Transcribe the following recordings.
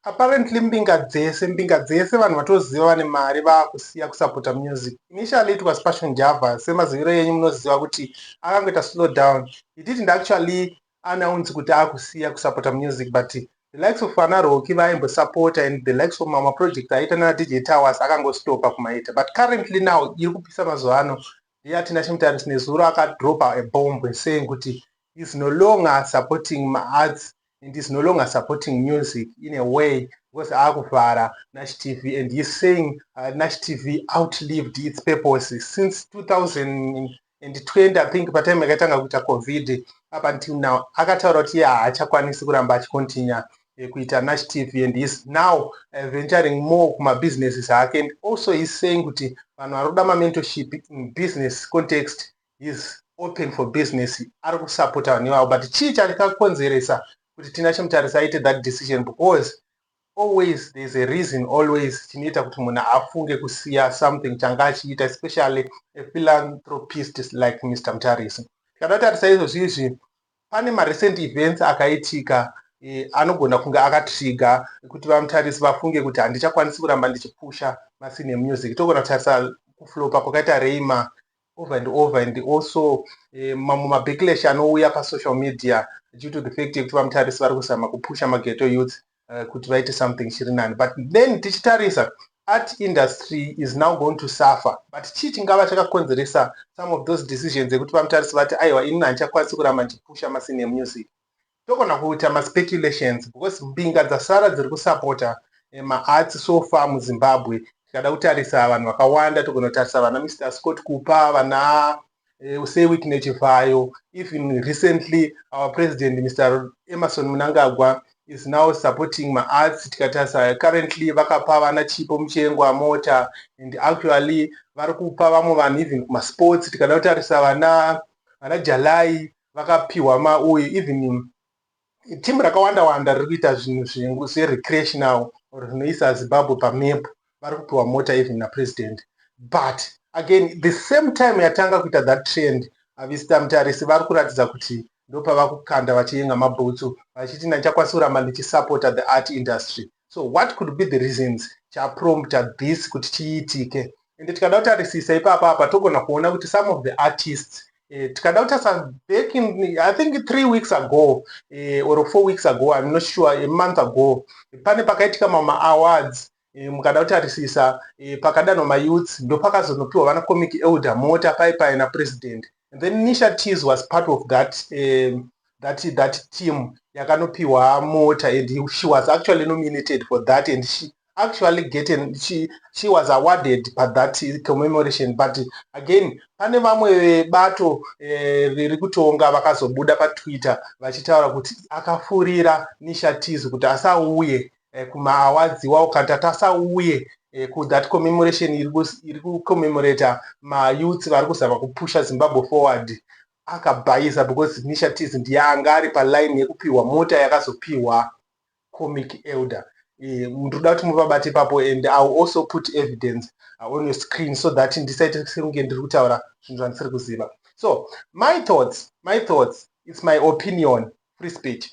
Apparently mbinga dzese mbinga dzese vanhu vatoziva vane mari vakusiya kusapota music. Initially it was Passion Java semaziviro yenyu munoziva kuti akangoita slow down. He didn't actually announce kuti akusiya kusapota music but the likes of ana Rocky vaaimbosapota and the likes of mamwe project aiita nana DJ Towers akangostopa kumaita but currently now iri kupisa mazuva ano ndiye atina chimutaris nezuro akadropa a bomb saying kuti is no longer supporting maarts and is no longer supporting music in a way because akuvhara nash tv and heis saying uh, nash tv outlived its purpose since 2020 i think patime yakatanga kuita covid up until now akataura kuti iye haachakwanisi kuramba achicontinua eh, kuita nash tv and heis now uh, venturing more kumabusinesses ake and also heis saying kuti vanhu vari kuda mamentorship in business context he's open for business ari kusapota vanhu ivavo but chii chakakonzeresa kuti tina chimutarisa aite that decision because always there's a reason always chinoita kuti munhu afunge kusiya something changa achiita especially a philanthropist like mr mutarisi tikada tarisa izvozvi izvi pane marecent events akaitika eh, anogona kunge akatriga kuti vamutarisi vafunge kuti handichakwanisi kuramba ndichipusha masine music togona kutarisa kuflopa kwakaita reima over and over and also eh, mamwe mabacklash anouya pasocial media due to the fact yekuti vamutarisi vari kuzama kupusha mageto youth uh, kuti vaite something chiri nani but then tichitarisa art industry is now going to suffer but chii chingava chakakonzeresa some of those decisions ekuti vamutarisi vati aiwa inini handichakwanisi kuramba ndichipusha masini emusic Togona kuita ma speculations because mbinga dzasara dziri ku supporter ma arts so far mu Zimbabwe tikada kutarisa vanhu vakawanda togona kutarisa vana Mister Scott Kupa vana Eh, usei witness chivhayo even recently our president mr emerson munangagwa is now supporting maarts tikatarisa currently vakapa vana chipo muchengwa mota and actually vari kupa vamwe vanhu even kumasports tikada kutarisa vana vana jalai vakapihwa ma uye even team rakawanda wanda riri kuita zvinhu zvinhu se recreational or zvinoisa zimbabwe pa map vari kupiwa mota even na president but again the same time yatanga kuita that trend avista mutarisi vari kuratidza kuti ndopavakukanda vachiyenga mabhutsu vachiti ndichakwanisa kuramba ndichisupporta the art industry so what could be the reasons chaprompta this kuti chiitike ende tikada kutarisisa ipapa apa togona kuona kuti some of the artists Eh, tikada kutasa back in i think three weeks ago eh, or four weeks ago im not sure a month ago pane pakaitika mama awards eh, mukada kutarisisa pakadanwa mayouths ndopakazonopiwa vana comic elder mota paipai napresident and then nisha teas was part of that um, that that team yakanopiwa mota and he, she was actually nominated for that and she actually getting she, she was awarded pa that commemoration but again pane vamwe vebato eh, riri kutonga vakazobuda patwitter vachitaura kuti akafurira nisha teas kuti asauye eh, kumaawards iwawo kana tatasauye eh, ku that commemoration iri kucommemorata mayouths vari kuzama kupusha zimbabwe forward akabhaiza because nisha tis ndiye anga ari paline yekupiwa mota yakazopiwa comic elder eh, ndinoda kuti muvabate ipapo and iw also put evidence uh, on your screen so that ndisaite sekunge ndiri kutaura zvinhu zvandisiri kuziva so my thoughts my thoughts its my opinion free speech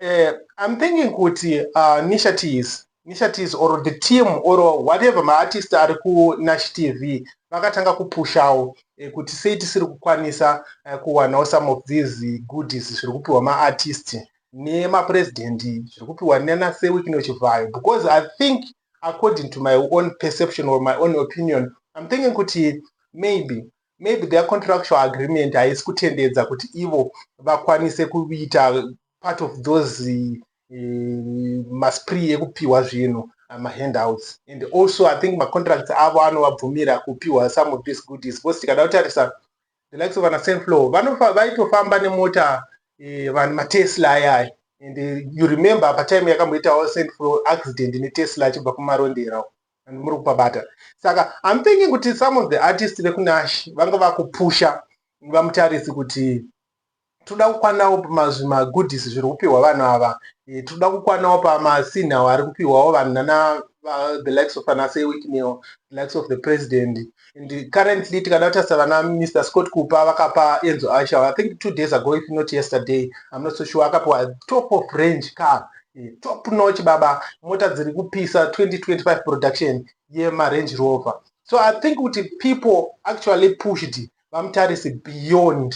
uh, i'm thinking kuti uh, nisha teas nisha teas or the team or whatever maartist ari kunash tv vakatanga kupushawo eh, kuti sei tisiri kukwanisa eh, kuwanawo some of these goodies zviri kupiwa maartist nemapresident zviri kupiwa nana sewikino chivhayo because i think according to my own perception or my own opinion i'm thinking kuti maybe maybe their contractual agreement haisi kutendedza kuti ivo vakwanise kuita part of those eh, maspri ekupiwa zvinhu eh, mahandouts and also i think macontracts avo anovabvumira kupiwa some of these goodies because tikada kutarisa the likes of anasenflow vaitofamba nemota eh, vanhu matesla ayaya and you remember patime yakamboitawo senflow accident netesla achibva kumarondera and muri kupabata saka I'm thinking kuti some of the artists vekunash vanga vakupusha vamutarisi kuti toda kukwanawo pamazvimagoodies zviri kupihwa vanhu ava eh, toda kukwanawo pamasinhawo ari kupihwawo vanhu nana the likes of anasewiknil the likes of the president and currently tikada kutarisa vana mr scott kupa vakapa enzo aisha i think two days ago if not yesterday i'm not so sure akapiwa top of range car eh, top notch baba mota dziri kupisa 2025 production yemarange rover so i think kuti people actually pushed vamutarisi beyond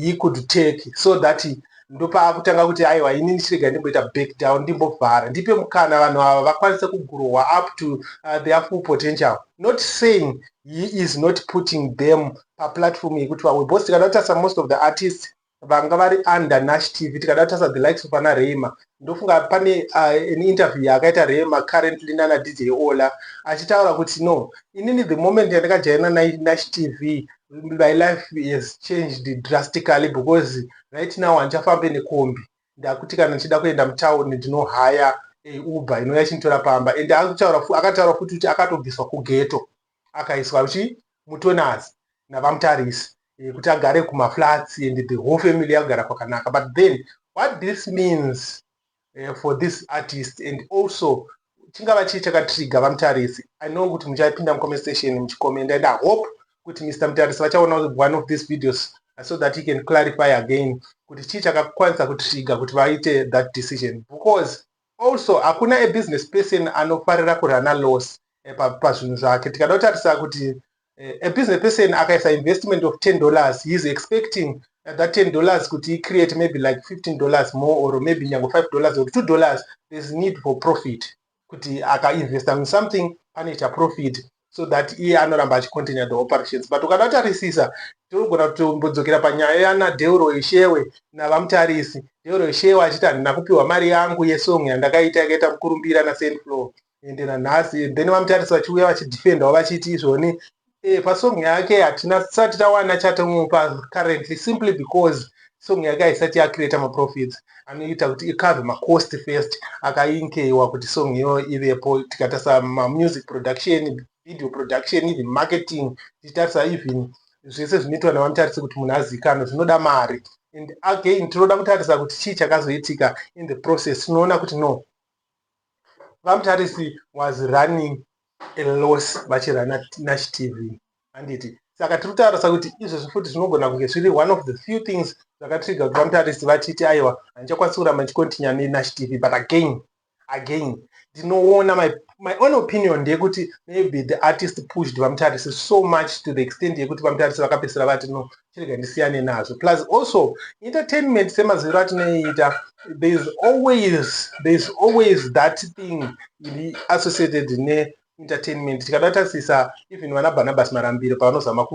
he could take so that ndopaakutanga kuti aiwa ini ndichirega ndimboita back down ndimbovhara ndipe mukana vanhu ava vakwanise kugurowa up to uh, their full potential not saying he is not putting them paplatform yekuti vawe bcause tikada kutasa most of the artists vanga vari under nash tv tikada kutasa the likes of ana reima ndofunga pane uh, an interview yaakaita rema currently nana dj ola achitaura kuti no inini the moment yandakajaina nash tv my life has changed drastically because right now handichafambe nekombi ndakuti kana ndichida kuenda mutown ndinohaya eh, uber inouya chinditora pamba and akataura futi kuti akatobviswa kugeto akaiswa kuchi mutonaz navamutarisi eh, kuti agare kumaflats and the whole family yakugara kwakanaka but then what this means eh, for this artist and also chingava chii chakatriga vamutarisi i know kuti muchapinda mucomment station muchikomenda and i hope kuti mr mutarisi vachaona one of these videos uh, so that he can clarify again kuti chii chakakwanisa kutriga kuti vaite that decision because Also hakuna a business person anofarira kurunner loss pazvinhu zvake. Tikada kutarisa kuti a business person akaisa investment of ten dollars he is expecting that ten dollars kuti i create maybe like fifteen dollars more or maybe nyange five dollars or two dollars there's need for profit kuti akainvesta in something pane chaprofit so that iye anoramba achicontinue the operations but ukadatarisisa tinogona kutombodzokera panyaya yana deuro ishewe navamutarisi deuro ishewe achiti handina kupiwa mari yangu yesong yandakaita yakaita mukurumbira nasendflow ende nanhasi then vamutarisi vachiuya vachidefendawo vachiti izvoni e, pasong yake hatina tisati tawana chatomupa currently simply because song yake haisati yacreata maprofits anoita kuti icove macost first akainkeiwa kuti song iyoyo ivepo tikatarisa mamusic production video production even marketing tichitarisa even zvese zvinoitwa nevamutarise kuti munhu azivikanwe zvinoda mari and again tinoda kutarisa kuti chii chakazoitika in the process tinoona kuti no vamutarisi was running a loss bachira nash tv handiti saka tiri kutaurisa kuti izvezvi futi zvinogona kunge zviri one of the few things zvakatriga kuti vamutarisi vatiti aiwa handichakwanisi kuramba ndichikontinya nenash tv but again again ndinoona my, my own opinion ndeyekuti maybe the artist pushed vamutarisi so much to the extent yekuti vamutarisi vakapesera vati no chirega ndisiyane nazvo plus also entertainment semaziviro atinoiita thereis always thereis always that thing iri associated ne entertainment tikada tasisa even vana barnabas marambiro pavanozama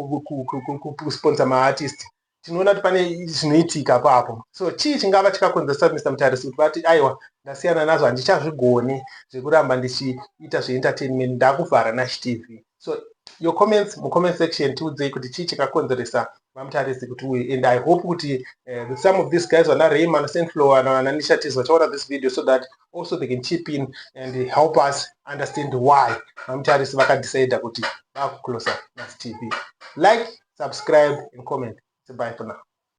kusponsa maartist tinoona kuti pane zvinoitika papo so chii chingava chikakonzeresa mr mutarisi kuti vati aiwa ndasiyana nazvo handichazvigoni zvekuramba ndichiita zveentertainment ndakuvhara nash tv so your comments mu comment section tiudzei kuti chii chakakonzeresa vamutarisi kuti uye and i hope kuti uh, some of these guys vana rayman senflow ana nishatis vachaona this video so that also they can chip in and help us understand why vamutarisi vakadecida kuti vakuclosa mas tv like subscribe and comment goodbye for now